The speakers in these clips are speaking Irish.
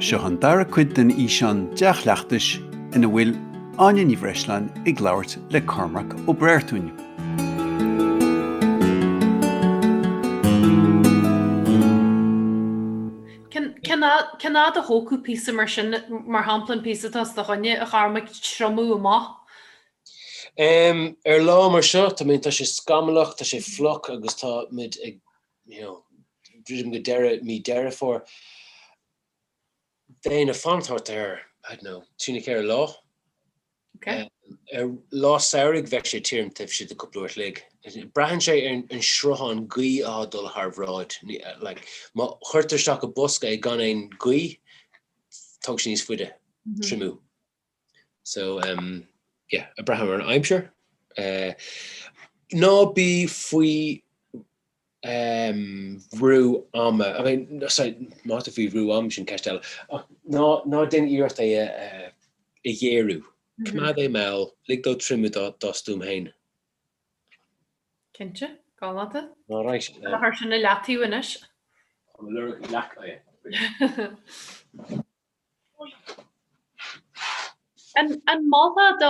Seo an dara cuid den fhíseán dea-chleachtais ina bhfuil Áine Ní Bhreisleáin ag labhairt le Cormac Ó Breartúin. Cén fhad a thógfadh píosa mar sin, mar shampla an píosa atá os do choinne, a Chormaic, triomú amach? Em, ar lá mar seo, tá mé, tá sé scamallach, tá sé fliuch agus tá muid ag, you know, druidim go deireadh mí Deireadh Fómhair. Bheinn ag fanacht thart ar, I don't know, trí nó ceithre lá. Ok. Ar lá samhraidh bheadh sé tirim taobh istigh de cúpla uair an chloig. Braitheann sé ar an sruthán gaoithe atá dul thar bráid. Like, má chuirtear isteach i bosca é gan aon ghaoth, tógann sé níos faide, triomú. So um yeah, braitheann ar an aimsir. Eh, ná bí faoi aon bhrú ama, I mean, no sorry, má tá tú faoi bhrú ama sin ceist eile, ach ná, ná déan iarracht é a, a ghéarú. Coimeád é mall, lig dó triomú dá, dá stuaim féin. Cinnte, galánta. All right. Cuirfidh mé sin ar leataobh anois. Tá mo lorg leac aige. An molfá do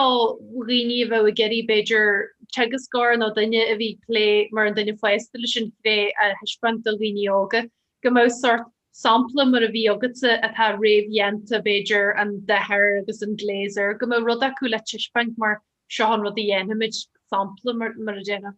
dhaoine a bheadh ag iarraidh, b'fhéidir, teagascóir nó duine a bhí ag plé mar an duine fásta leis an chré a thaispeáint do dhaoine óga, go mbeadh sórt sampla mar a bhí agatsa atá réamhdhéanta, b'fhéidir, an dath air agus an glaze air, go mbeadh rud acu le taispeáint mar seo an rud a dhéanfaimid, sampla mar a déarfá.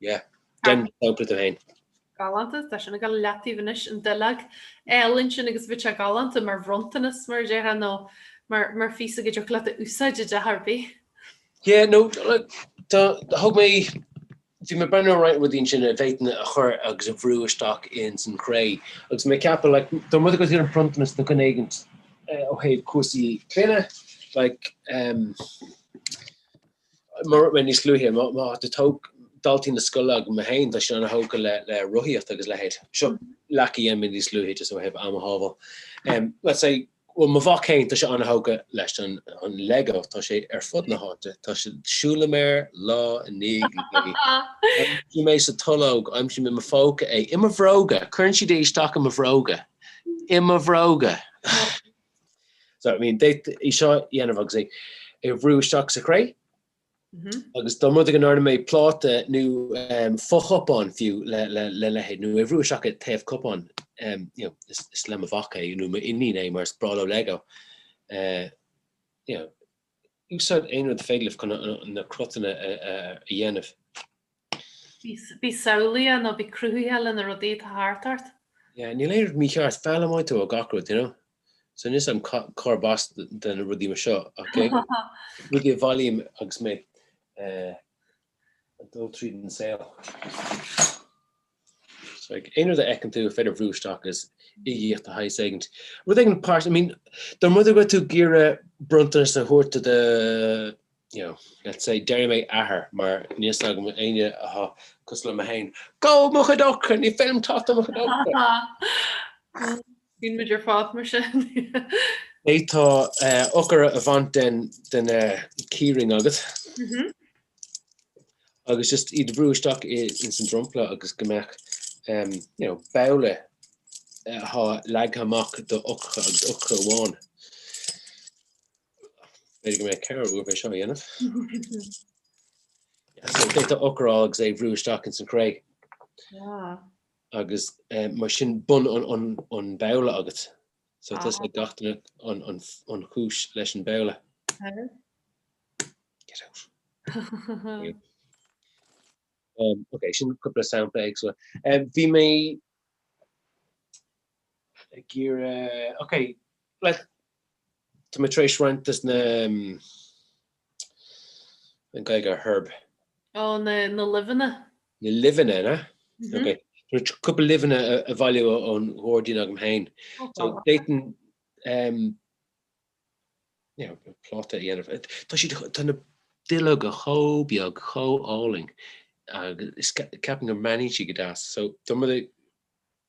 Yeah. Déan sampla tú féin. Galánta, tá sin ag gabháil leataobh anois, an duilleog álainn sin agus bheadh sé galánta mar bhronntanas, mar a déarfá, nó mar, mar phíosa a dtiocfadh leat a úsáid i dteach ar bith. Yeah, nó tá, thug mé, bhí mé ag breathnú ar roinnt rudaí ansin a bhféadfainn a chur agus a bhrú isteach ins an chré. Agus mé ag ceapadh, like, dá mb'rud é go raibh bronntanas nó rud éigint ó thaobh cúrsaí clainne, like, um, Mar a luaigh mé níos luaithe, má tá tóg daltaí na scoile agam, mé féin, tá siad ana thógtha le le rothaíocht agus leithéid. Seo leac a dhéan mé níos luaithe just ó thaobh am a shábháil. Let's say, bhuel mo mhac féin, tá sé ana thógtha leis an Lego, tá sé ar fud na háite, tá sé, siúlaim air lá i ndiaidh lae. Aimsím é sa tolg, aimsím i mo phóca é, i mo bhróga, cuireann siad é isteach i mo bhróga, i mo bhróga! So, I mean, d'fhéadfá é seo a dhéanamh agus é a bhrú isteach sa chré. Agus dá mb'rud é go ndearna mé pláta nó fochupán fiú le leithéid, nó é a bhrú isteach i dtaobh cupán, you know, is le mo mhac é nó m'iníon é mar is breá leo Lego. You know, úsáid aon rud is féidir libh chun na cruthanna a dhéanamh. Bí samhlaíoch nó bí cruthaitheach le na rudaí atá thart ort. Yeah, níl aon rud mícheart, foghlaimíonn tú ó gach rud, you know. So níl a fhios agam cárb as do na rudaí mar seo, ach rudaí a bhailím agus mé ag dul tríd an saol. Aon rud a fheiceann tú ar féidir bhrú isteach agus uigeacht de shaghas éigint. Rud éigin páirt, I mean, dá mba rud é go raibh tú ag iarraidh bronntanas a thabhairt do do, you know, let's say, déarfaidh mé athair, mar níl a fhios agam éinne atá cosúil le mé féin, Go! Mo chuid eochracha! Ní féidir liom teacht ar mo chuid eochracha! Bíonn muid ar fad mar sin. D'fhéadfá eochair a bhaint den den keyring agat. Mhm. Agus just iad a bhrú isteach i ins an dromchla agus go mbeadh em you know babhla atá leagtha amach do eochracha agus eochracha amháin. B'fhéidir go mbeadh ceithre uair bheith seo a dhéanamh. Yeah, so d'fhéadfá eochair a fháil agus é bhrú isteach ins an chré. Ah. Agus mar sin bun an babhla agat. So tá a fhios ag gach duine an chúis leis an babhla. Get out. um, okay, sin cúpla sampla agus so. Um, bhí mé ag iarraidh, ok, like, tá mé tar éis roinnt as na, an Ghaeilge ar herb. Ó, na, na luibheanna. Na luibheanna, na? Mhm. Ok. So cúpla luibheanna a, a bhailiú ó, ón ghairdín agam féin. Ó, So, fabhach. d'fhéadfainn, um, you know, b'fhéidir pláta a dhéanamh. Eh, Tá siad, tá na duilleoga chomh beag, chomh álainn, agus is ca- ceapaim go mbreathnaíonn siad go deas. So, deir muid,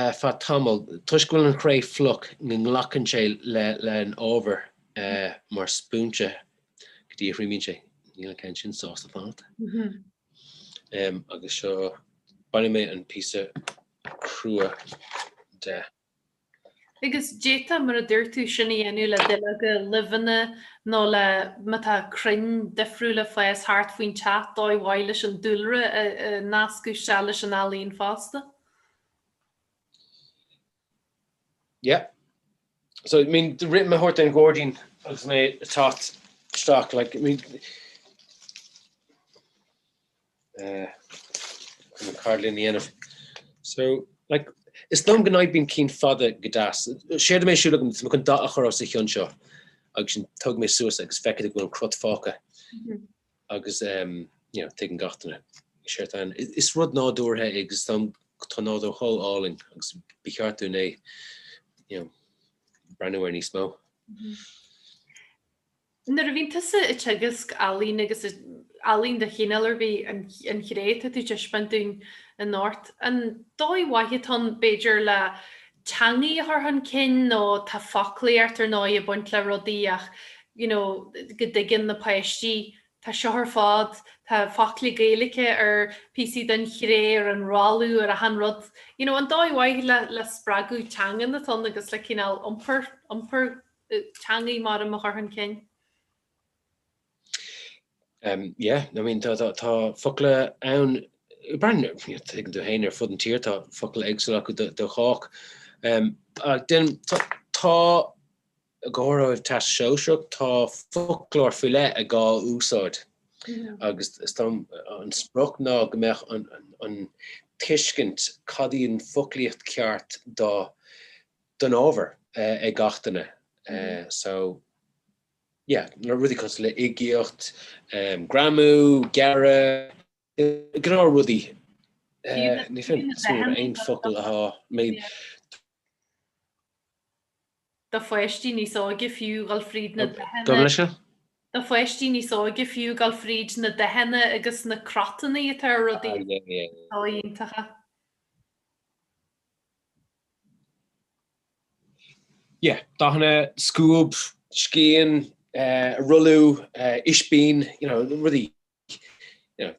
ar feadh tamaill toisc go bhfuil an chré fliuch, go nglacann sé leis an ábhar mar spúinse go dtí a thriomaíonn sé. Níl an ceann sin sásta fanacht. Agus seo bainfidh mé an píosa crua de. Agus d'fhéadfá, mar a dúirt tú, sin a dhéanamh le duilleoga luibheanna nó le má tá crainn difriúla ag fás thart faoin teach, dóigh mhaith leis an dúlra a nascadh isteach leis an ealaín fosta. Yeah. So, I mean, rith mé thart an ghairdín agus mé ag teacht isteach, like, I mean, An cad linn a dhéanamh? So, like, is dóigh liom go n-oibríonn cinn fada go deas. Séard a bheidh ar siúl agam, is mé chun dath a chur os a chionn seo. Agus ansin tógfaidh mé suas iad agus feicfidh tú go bhfuil an cruth fágtha. Agus, um, you know, tuigeann gach duine. Séard atá ann, is rud nádúrtha é agus tá, tá an nádúr chomh hálainn agus ba cheart dúinn é, you know, breathnú air níos mó. Nuair a bhíonn tusa ag teagasc ealaín, agus ealaín de chineál ar bith, an chré atá tú ag taispeáint dúinn inniu, an dóigh mhaith atá ann, b'fhéidir, le teangaidh a chur chun cinn, nó tá foclaí ort, ar ndóigh, ag baint le rudaí ach you know go dtuigeann na páistí, tá seo ar fad, tá focla Gaeilice ar phíosaí den chré, ar an rothlú, ar achan rud. You know, an dóigh mhaith le spreagadh teangan atá ann agus le cineál iompar, iompar. teangaidh mar mhodh a chur chun cinn. Umm, yeah, I mean, tá, tá, tá focla ann, mar a thuigeann tú féin, ar fud an tír tá focla éagsúla acu do, do chách. Umm, ach déanaim, tá, tá, i gcomhair an Teastas Sóisearach, tá foclóir faoi leith ag gá úsáid. Agus is dóigh liom, an sprioc ná go mbeadh an, an, an tuiscint cad í an foclaíocht ceart do, don ábhar ag gach duine so yeah na rudaí cosúil le uigeacht, greamú, gearradh, gnáth rudaí ní fhéadfainn aon focail a thabhairt do pháistí níos óige fiú ghil fríd na dathanna. do pháistí níos óige fiú ghabháil fríd na dathanna agus na cruthannaí atá ar rudaí. Tá, iontach. dathanna, scuab, scian, rothlú, ispín, you know, rudaí, you know,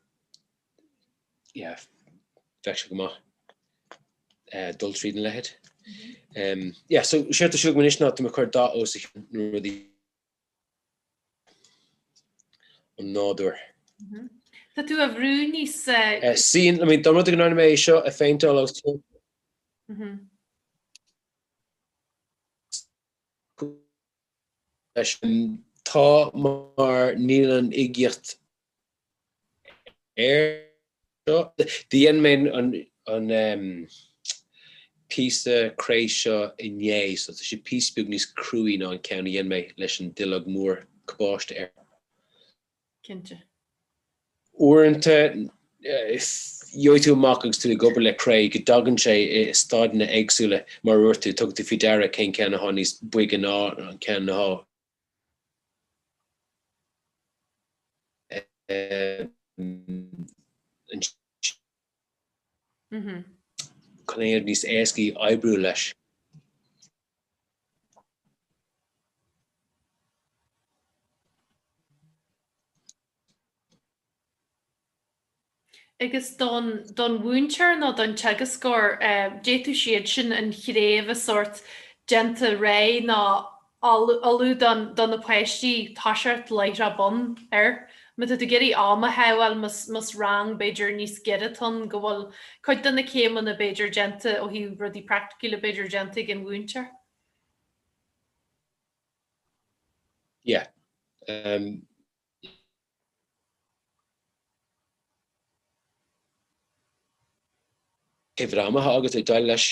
yeah, bheadh sé go maith dul tríd an leithéid. Yeah, so seo, tá súil agam anois ná tá mé ag cur dath os a chionn nó rudaí. an nádúr. Tá tú á bhrú níos. Sin, I mean, dá mba rud é go ndearna mé é seo a phéinteáil agus tú leis. Tá, mar níl an uigeacht air seo. Dhein mé an píosa cré seo inné so tá sé píosa beag níos cruaí ná an ceann a dhein mé leis an duilleog mhór cabáiste air. Cinnte. Uaireanta gheobhaidh tú amach agus tú ag obair le cré go dtagann sé i staideanna éagsúla mar a dúirt tú, tug tú faoi deara gur an ceann atá níos boige ná an ceann atá cineál níos éascaí oibriú leis. agus don don mhúinteoir nó don teagascóir d'fhéadfadh siad sin an chré a bheith a saghas déanta réidh nó ullamh don do na páistí tosú láithreach bonn er má tá tú ag iarraidh am a shábháil más más rang b'fhéidir níos giorra atá ann go bhfuil cuid de na céimeanna b'fhéidir déanta ó thaobh rudaí praiticiúla b'fhéidir déanta ag an mhúinteoir yeah um Cé bhfad ama atá agat le dul leis?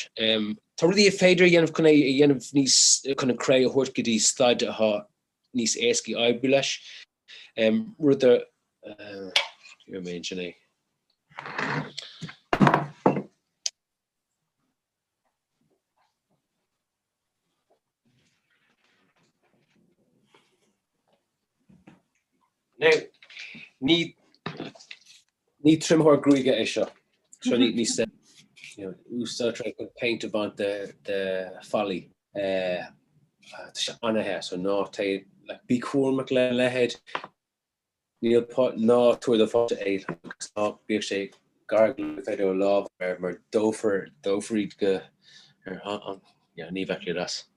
Tá rudaí ar féidir a dhéanamh chun é a dhéanamh níos, chun an cré a thabhairt go dtí staid atá níos éasca í oibriú leis. Rud a, you mentioned é? Now, ní, ní triomaitheoir gruaige é seo. So ní, ní hea, you know, úsáidtear é chun péint a bhaint de, de bhallaí. Eh, tá sé an-the, so ná téigh, like, bí cúramach lena leithéid. Níl, b'fhéidir, ná tabhair do pháiste é, agus ná bíodh sé gar do, b'fhéidir, a lámha mar dófar, dófar iad go, ar, an, yeah, ní bheadh siad sásta.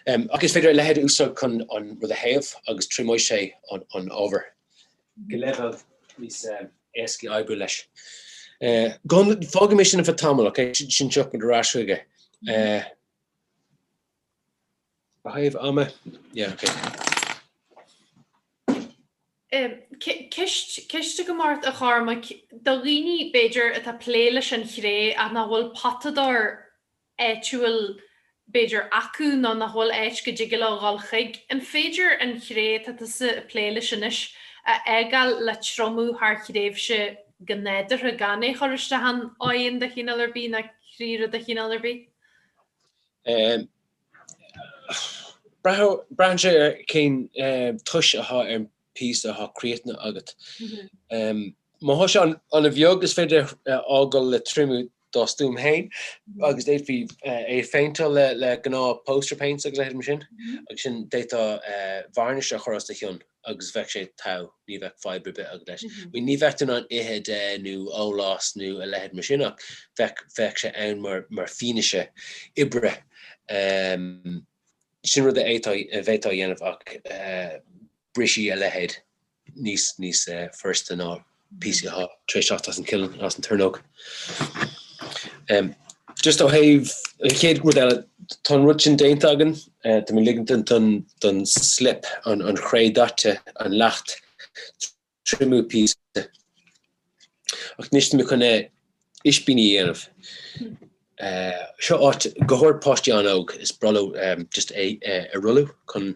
Ach is féidir a leithéid a úsáid chun an rud a théamh agus triomóidh sé an ábhar go leibhéal níos éasca oibriú leis. Fágfaidh mé sin ar feadh tamaill, okay? Ansin tiocfaidh muid ar ais chuige. Ó thaobh ama, yeah, okay. Ceist, ceist agam ort a Chormaic, do dhaoine b'fhéidir atá ag plé leis an chré ach nach bhfuil potadóir áitiúil b'fhéidir acu nó nach bhfuil áit go dtig leo dhul chuig, an féidir an chré atá tusa ag plé leis anois a fhágáil le triomú thar thréimhse go nádúrtha gan é a chur isteach in oigheann de chineál ar bith nó cré-oigheann de chineál ar bith? Braitheann sé ar cén tiús atá ar an píosa atá críochnaithe agat. Má thá sé ana bheag is féidir a fhágáil le triomú dá stuaim féin agus d'fhéadfaí é a phéinteáil le gnáth poster paints agus leithéidí mar sin agus ansin d'fhéadfá varnish a chur os a chionn. agus bheadh sé togha, ní bheadh fadhb ar bith agat leis. Bhuel ní bheadh tú in ann ithe de nó ól as nó a leithéid mar sin ach bheadh, bheadh sé ann mar, mar fianaise oibre. Sin rud a d'fhéadfá, a bhféadfá a dhéanamh ach brisfidh a leithéid níos, níos furasta ná. píosaí tá tar éis teacht as an kiln, as an tornóg. Just ó thaobh an chéad rud eile, tá an rud sin déanta againn, tá mé ligint don slip, an chré daite, an leacht, triomú píosa. Ach anois tá mé chun ispíní a dhéanamh. Seo ait go háirid páistí an-óg, is breá leo just é a rolladh chun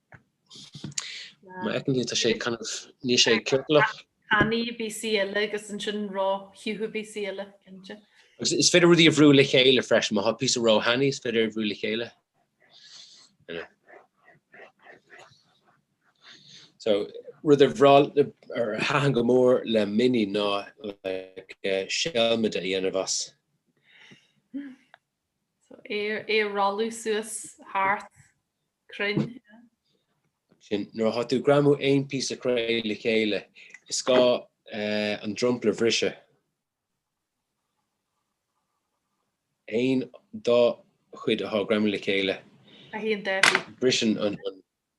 Má fheiceann tú, tá sé kind of, níl sé ciorclach. Tanaí píosa eile agus ansin ró-shiútha píosa eile, cinnte. Agus is féidir rudaí a bhrú le chéile freisin, má tá píosa ró-thanaí, is féidir é a bhrú le chéile. So, rud ar bhreá, ar thaitin go mór le Minnie ná, like, seilmide a dhéanamh as. So é a rolladh suas thart cruinn. Sin, nuair atá tú ag greamú aon phíosa cré le chéile, is gá an dromchla a bhriseadh. Aon dá chuid atá ag greamú le chéile, briseann an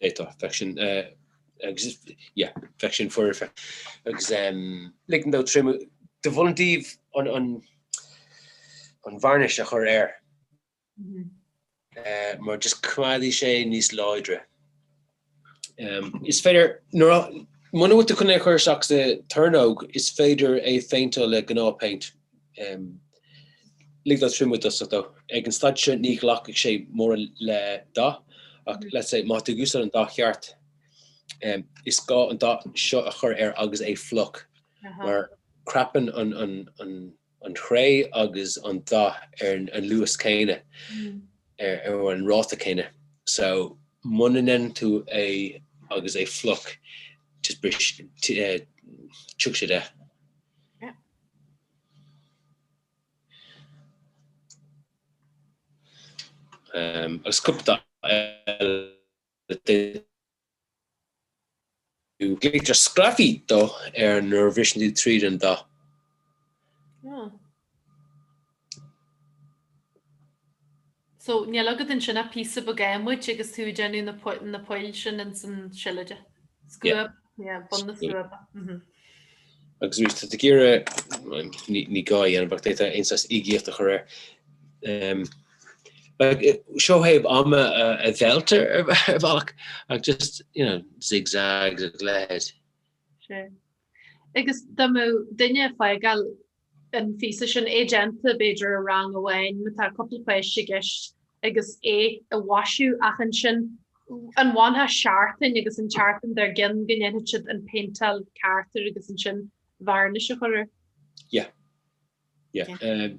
D'fhéadfadh, bheadh sin, agus is, yeah, bheadh sin foirfe, agus, em, ligean dó triomú, dá mba áil daoibh an, an, an vearnais a chur air, eh, mar just coimeádfaidh sé níos láidre. Em, is féidir, nuair a, muna bhfuil tú chun é a chur isteach sa tornóg, is féidir é a phéinteáil le gnáth paint, Lig dó triomú i dtosach though. Ag an staid seo ní ghlacfaidh sé mórán le dath ach, let's say, má tá tú ag úsáid an dath cheart, is gá an dath seo a chur air agus é fliuch mar crapann an chré agus an dath ar an luas céanna, ar an ráta céanna. So, muna ndéanann tú é agus é fliuch, just brisfidh, tiocfaidh sé de. agus cupla eile. Glaoitear sgraffito air nuair a bhriseann tú tríd an dath. So, níl agat ansin ach píosa beag adhmaid agus tá tú ag déanamh na poill sin ins an seilide. Scuab, yeah, bun na scuaba, mhm. Agus arís, tá tú ag iarraidh, ní gá é a dhéanamh ach d'fhéadfá aon saghas uigeacht a chur air. Like, seo cur amú an dealta ar bhealach ach just, you know, zigzags a leithéid. Sure. Agus dá mbeadh duine ag fágáil an phíosa sin a dhéanamh, b'fhéidir, i rang amháin, má tá cúpla cois i gceist, agus é a mhaisiú, ach ansin, an bhfanfá seachtain agus an tseachtain dár gcionn go ndéanfad siad an péinteáil ceart air agus ansin vearnais a chur air? Yeah. Yeah. Yeah. Um,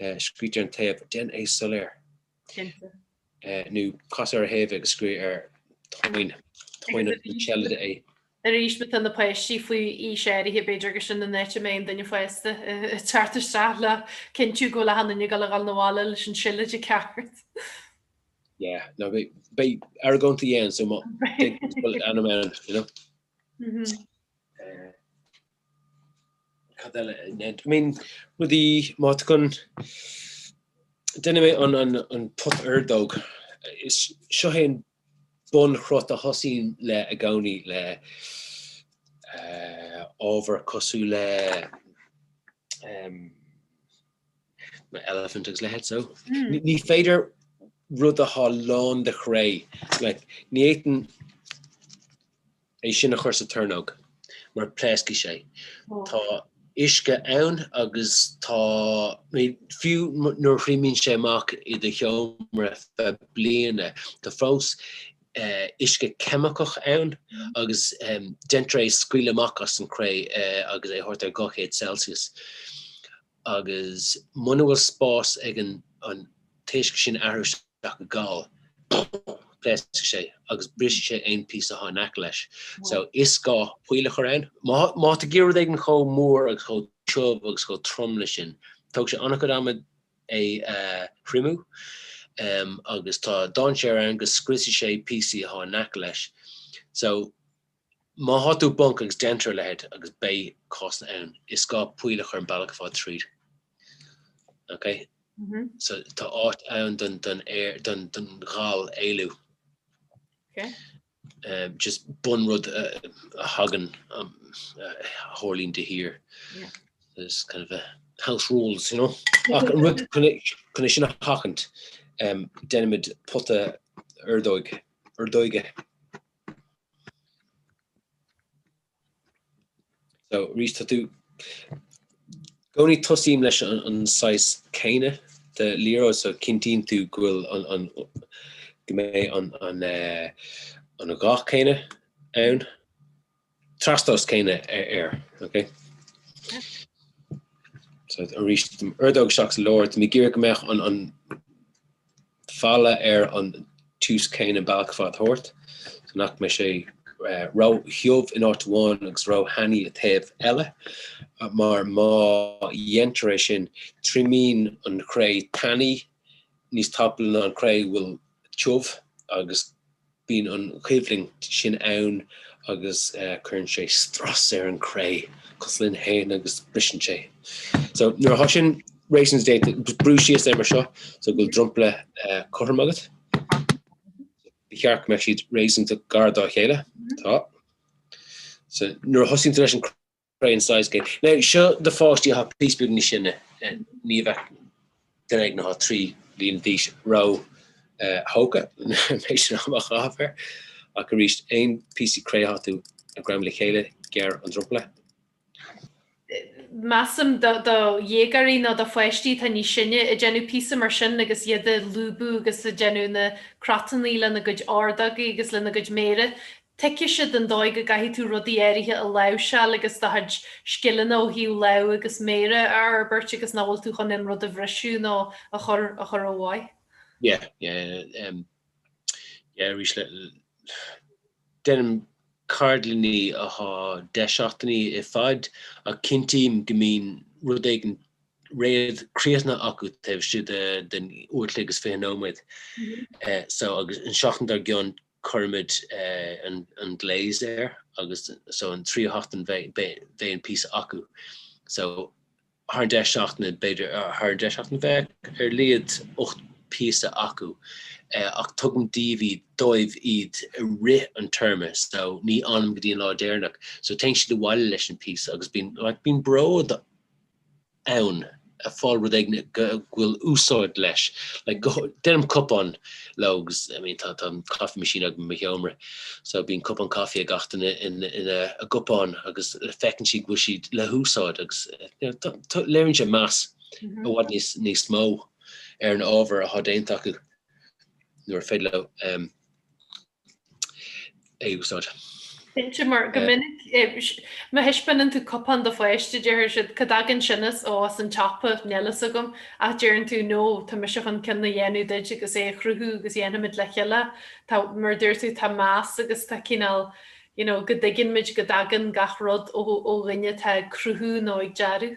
scríobhtar ar an taobh den é soiléir. Cinnte. nó casadh ar a thaobh agus scríobh ar tóin, tóin an tseilide é. Arís má tá na páistí faoi aois áirithe b'fhéidir gur sin an áit a mbeidh an duine fásta ag teacht isteach le cinntiú go bhfuil achan nduine ag dul, ag dul abhaile leis an seilide ceart. Yeah, ná beidh argóint a dhéanamh so má, beidh, bhfuil ainm ann, you know. cad eile a dhéantar? I mean, rudaí, má tugann, deinfidh mé an, an, an pota ordóg, is seo é an bunchruth a thosaím leis i gcónaí le, eh, ábhar cosúil le, em, na elephant agus a leithéid, so, ní, ní féidir rud atá lán de chré, like, ní fhéadfainn, é sin a chur sa tornóg mar pléascfaidh sé. Tá uisce ann agus tá, fiú nuair a thriomaíonn sé amach i do sheomra feadh bliana, tá fós uisce ceimiceach ann agus deintear é a scaoileadh amach as an chré agus é a thabhairt ar 200 Celsius. Agus muna bhfuil spás ag an t-uisce sin athrú isteach go gal, pléascfaidh sé agus brisfidh sé aon phíosa atá in aice leis. So, is gá poill a chur ann. Má tá rud éigin ag éirí chomh mór agus chomh tiubh agus chomh trom leis sin, tógfaidh sé an-chuid ama é a thriomú. Agus tá dainséar ann go scriosfaidh sé píosaí atá in aice leis. So, Má thá tú i bponc agus deintear a leitheid agus beidh cosa ann is gá poill a chur an bealach ar fad tríd. Ok? So tá áit ann don don air don don ghal éalú. Um, just bun rud uh, a thagann um, uh, tharlaíonn do, there. There's kind of a house rules, you know. rud chun sin a sheachaint um, deinimid pota ordóig ordóige. So, arís, tá tú i gcónaí, tosnú leis an saghas céanna de liathróid, so cinntíonn tú go bhfuil an, go mbeidh an, an, eh, an dhath céanna ann. trastomhas céanna air. Arís, ordóg isteach, lúdóg, tá mé ag iarraidh go mbeadh an falla ar an tiús céanna an bealach ar fad thart, so nach mbeidh sé ró-thiubh in áit amháin agus ró-thanaí ar thaobh eile, mar má dhéantar é sin, triomaíonn an chré tanaí níos tapa ná an chré a bhfuil tiubh, agus Bíonn an choimhlint sin ann agus cuireann sé strus ar an chré cosúil linn féin agus briseann sé. So, nuair atá sin réasúnta, brú síos é mar seo, so go bhfuil dromchla cothrom agat. Ba cheart go mbeadh siad réasúnta gar dá chéile. Tá. So, nuair a thosaíonn tú leis an. gcré an size sin. Now, seo do pháistí atá píosa beag níos sine, ní bheadh duine éigin atá trí bhliana d'aois ró thógtha, measaim, leis an ábhar ach arís, aon phíosaí cré atá tú ag greamú le chéile, gearr an dromchla. Measaim do dhéagóirí nó do pháistí atá níos sine ag déanamh píosa mar sin agus iad ag lúbadh agus ag déanamh na cruthannaí lena gcuid ordógaí agus lena gcuid méire, Tuigfidh siad an dóigh go gcaithfidh tú rudaí áirithe a láimhseáil agus do chuid scileanna ó thaobh lámh agus méire a fhorbairt agus nach bhfuil tú chun aon rud a bhriseadh nó a chur a chur ó mhaith. Yeah, yeah, um, yeah, arís le, deinim ceardlannaí atá deich seachtainí i bhfad ach cinntíim go mbíonn rud éigin réidh críochnaithe acu taobh istigh den uair an chloig agus fiche nóiméad. So agus an seachtain dár gcionn cuirimid an glaze air agus so an tríú sheachtain bheidh an píosa acu so thar an deich seachtaine b'fhéidir thar an deich seachtaine bheadh ar a laghad ocht píosa acu ach tugaim daoibh iad dóibh iad i rith an téarma so ní fhanaim go dtí an lá deireanach so téann siad abhaile leis an píosa agus bíonn like bíonn bród ann, ag fáil rud éigin go bhfuil úsáid leis. Deinim cupán leo agus, I mean tá coffee machine agam i mo sheomra so bíonn cupán coffee ag gach duine ina gcupán agus feiceann siad go bhfuil siad le húsáid agus léiríonn siad meas i bhfad níos níos mó ar an ábhar atá déanta acu nuair is féidir leo a úsáid. Cinnte, mar go minic, má thaispeánann tú cupán do pháiste, déarfaidh siad, 'Cá dtagann sin as? Ó, as an tsiopa, níl a fhios agam. Ach deireann tú, 'No, tá mise chun ceann a dhéanamh leat agus é a chruthú agus dhéanfaimid le chéile. Tá, mar a dúirt tú, tá meas agus tá cineál, you know, go dtuigeann muid go dtagann gach rud ó dhuine atá ag cruthú nó ag dearadh.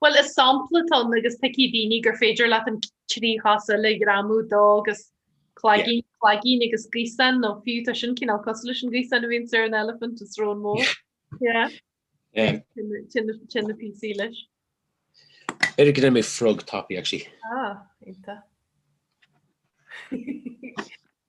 Bhuel is sampla atá ann agus feicfidh daoine gur féidir leat an trí chos eile a ghreamú dó agus cloigeann, cloigeann agus gaosán nó fiú tá sin cineál cosúil leis an ghaosán a bhíonns ar an elephant is srón mór. Sin na píosaí leis. B'fhéidir go ndéanfaidh mé frog tapaidh actually. Ah, iontach.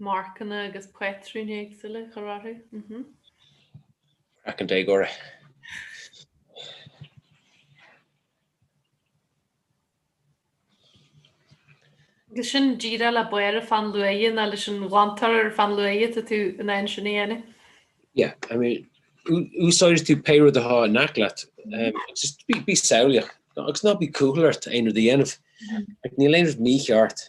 Marcanna agus patrúin éagsúla a chur orthu. Craiceann déagóra. Agus sin díreach le barr an pheann luaidhe nó leis an ghlantóir ar pheann luaidhe atá tú in ann sin a dhéanamh. Yeah, I mean, úsáideann tú pé rud atá in aice leat. Just bí samhlaíoch. Agus ná bí cúthail ort aon rud a dhéanamh. Níl aon rud mícheart.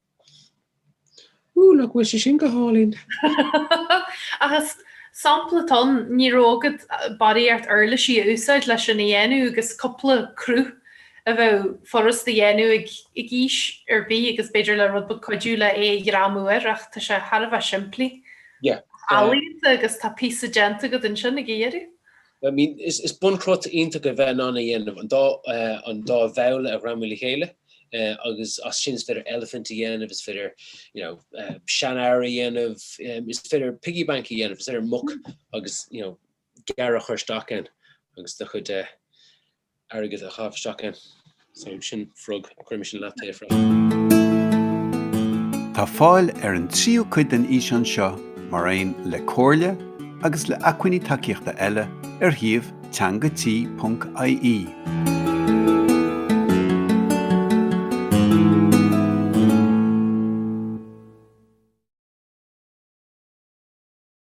Ooh nach bhfuil sé sin go hálainn. Ach is sampla atá ann, ní raibh go dáiríre ort uirlisí a úsáid leis sin a dhéanamh agus cúpla cruth a bheadh furast a dhéanamh ag aois ar bith agus b'fhéidir le rud beag cuidiú le é a ghreamú air ach tá sé thar a bheith simplí. Ealaíonta agus tá píosa déanta agat ansin ag an deireadh. I mean, is bunchruth iontach a bheith in ann a dhéanamh, an dá bhabhla a ghreamú le chéile, agus as sin is féidir elephant a dhéanamh, is féidir, you know, seanfhear a dhéanamh, is féidir piggy bank a dhéanamh, is féidir muc agus, you know, gearradh a chur isteach ann agus do chuid airgead a chaitheamh isteach ann. So sin frog, cuirimis ar leataobh freisin. Tá fáil ar an tríú cuid den fhíseán seo mar aon le comhairle agus le acmhainní tacaíochta eile ar shuíomh teangati.ie.